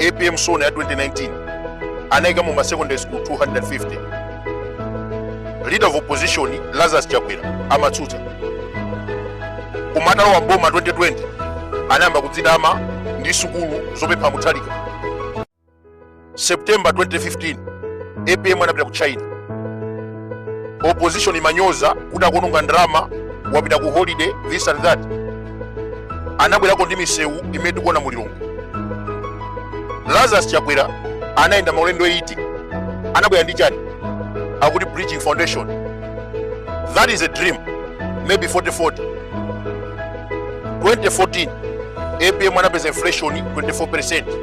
apm sona ya 2019 anaika mu masecondary school 250 leader of opposition lazarus chakwera amatsutsa koma atalowa boma 2020 anayamba kudzitama ndi sukulu zopempha muthalika september 2015 apm anapita ku china opposition imanyoza kuti akuononga ndalama wapita ku holiday this and that anabwerako ndi misewu imene tikuona mu lilongwe lazarus chakwera anayenda maulendo 80 anabwera ndi chani akuti bridging foundation that is a dream maybe 4040 2014 apm anapeza inflation 24 percent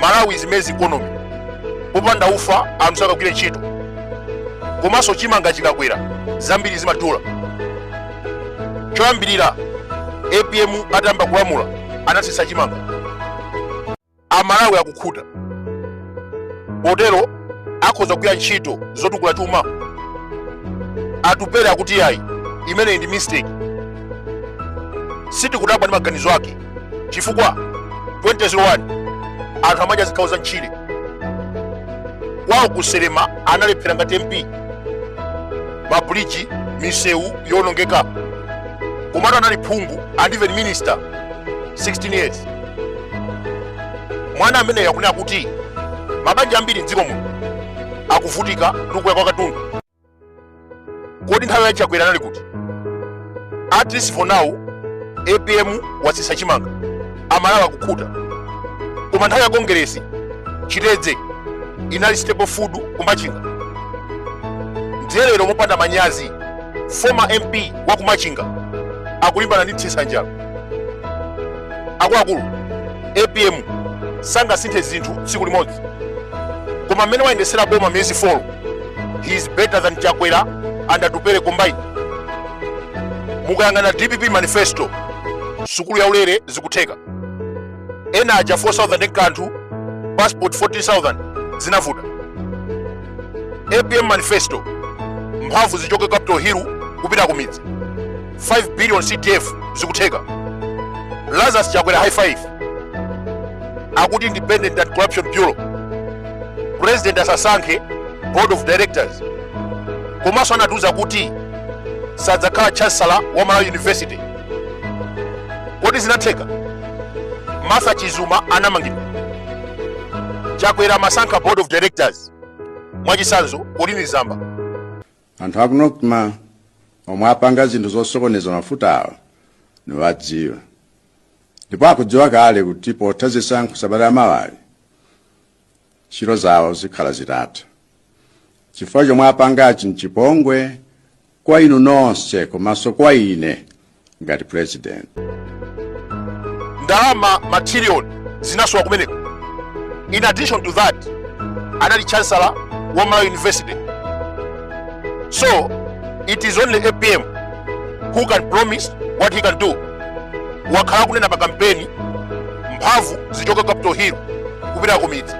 malawi is maize economy popanda ufa anthu sakagwire ntchito komanso chimanga chikakwera zambiri zimadula choyambirira apm atayamba kulamula anatsitsa chimanga amalawi akukhuta potero akhoza kugwira ntchito zotukula chuma atupere akuti ayi imeneyi ndi mistake sitikudabwa ndi maganizo ake chifukwa 2001 anthu amadya zikhawo za mtchire kwawo kuselema analephera ngati mp mabuliji misewu yonongeka komatu anali phungu and even minister 16 years mwana ameneyo akunena kuti mabanja ambiri mdziko muno akuvutika ndi kukwera kwa katundu kodi nthawi ya chakwera anali kuti at least for now apm watsitsa chimanga amalawi akukhuta koma nthawi ya kongeresi chitedze inali staple food kumachinga ndiye lero mopanda manyazi former mp wa kumachinga akulimbana ndi mtsitsa njala akuluakulu apm sangasinthe zinthu tsiku limodzi koma mmene wayendesera boma miyezi 4 he is better than chakwera and atupere combined mukayang'ana dpp manifesto sukulu ya ulere zikutheka ena aja 4000 ndi kanthu passport 14000 zinavuta apm manifesto mphamvu zichoke capital hill kupita kumidzi 5 billion cdf zikutheka lazarus chakwera high five akuti independent anti corruption bureau president asasankhe board of directors komanso anatiuza kuti sadzakhala chancellor wa malawi university kodi zinatheka martha chizuma anamangidwa chakwera amasankha board of directors mwachitsanzo colleen zamba anthu aku NOCMA omwe apanga zinthu zosokoneza mafutawa ndiwadziwa ndipo akudziwa kale kuti potha zisankho sabata la mawali ntchito zawo zikhala zitatha chifukwa chomwe apangachi mchipongwe kwa inu nonse komanso kwa ine ngati president ndalama matiriyoni zinasowa kumeneko in addition to that anali chancellor wa malawi university so it is only apm who can promise what he can do wakhala akunena pa kampeni mphamvu zichoka capital hill kupita kumidzi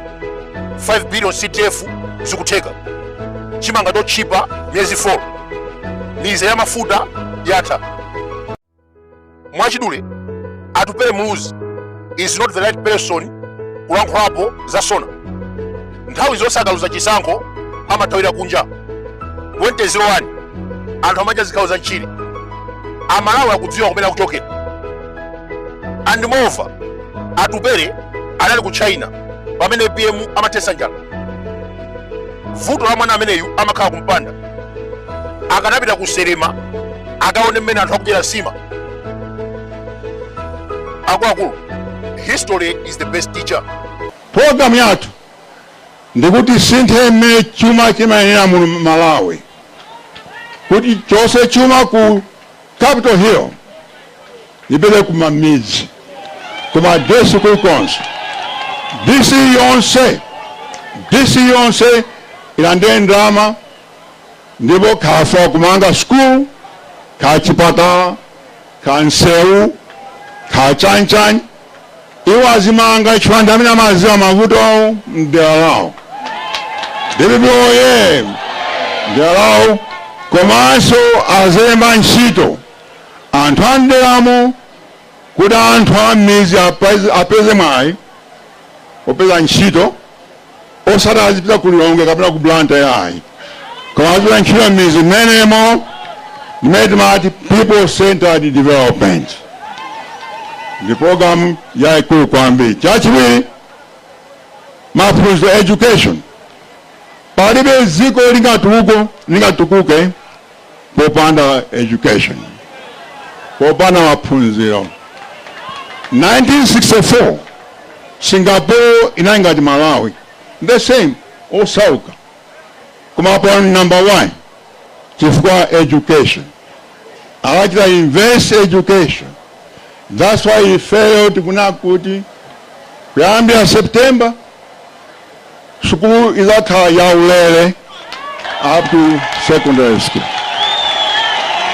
5 billion cdf zikutheka chimanga chotchipa miyezi 4 mizere ya mafuta yatha mwachidule atupele muluzi is not the right person kulankhulapo za sona nthawi zonse akaluza chisankho amathawira kunja 2001 anthu amadya zikhawo za mtchire amalawi akudziwa kumene akuchokera and moreover atupele anali ku china pamene apm amathetsa njala vuto la mwana ameneyu amakhala kumpanda akanapita ku salima akaone mmene anthu akudyera nsima akuluakulu history is the best teacher programu yathu ndikuti tisinthe mmene chuma chimayendera mu malawi kuti chonse chuma ku Capital Hill ipite kumamidzi, kuma DC kulikonse, DC yonse, DC yonse ilandire ndalama ndipo kaya kumanga school ka chipatala ka nsewu ka chanichani Iwo azimanga chifukwa ndi amene amadziwa mavuto awo mdera lawo. Dpp oye! Mdera lawo komanso azilemba ntchito anthu a mderamo kuti anthu a m'midzi apeze mwayi opeza ntchito. osati azipita ku lilongwe kapena ku blantyre yayi koma azigwira ntchito m'midzi mmenemo ndimene timati people centered development ndi programu yayikulu kwambiri chachiwiri maphunziro education palibe dziko lingatukuke lingatukuke popanda education popanda maphunziro 1964 singapore inali ngati malawi the same osauka koma pano number one chifukwa education anachita invest education that's why ifeyo tikunena kuti kuyambira september Sukulu idzakhala yaulere up to secondary school.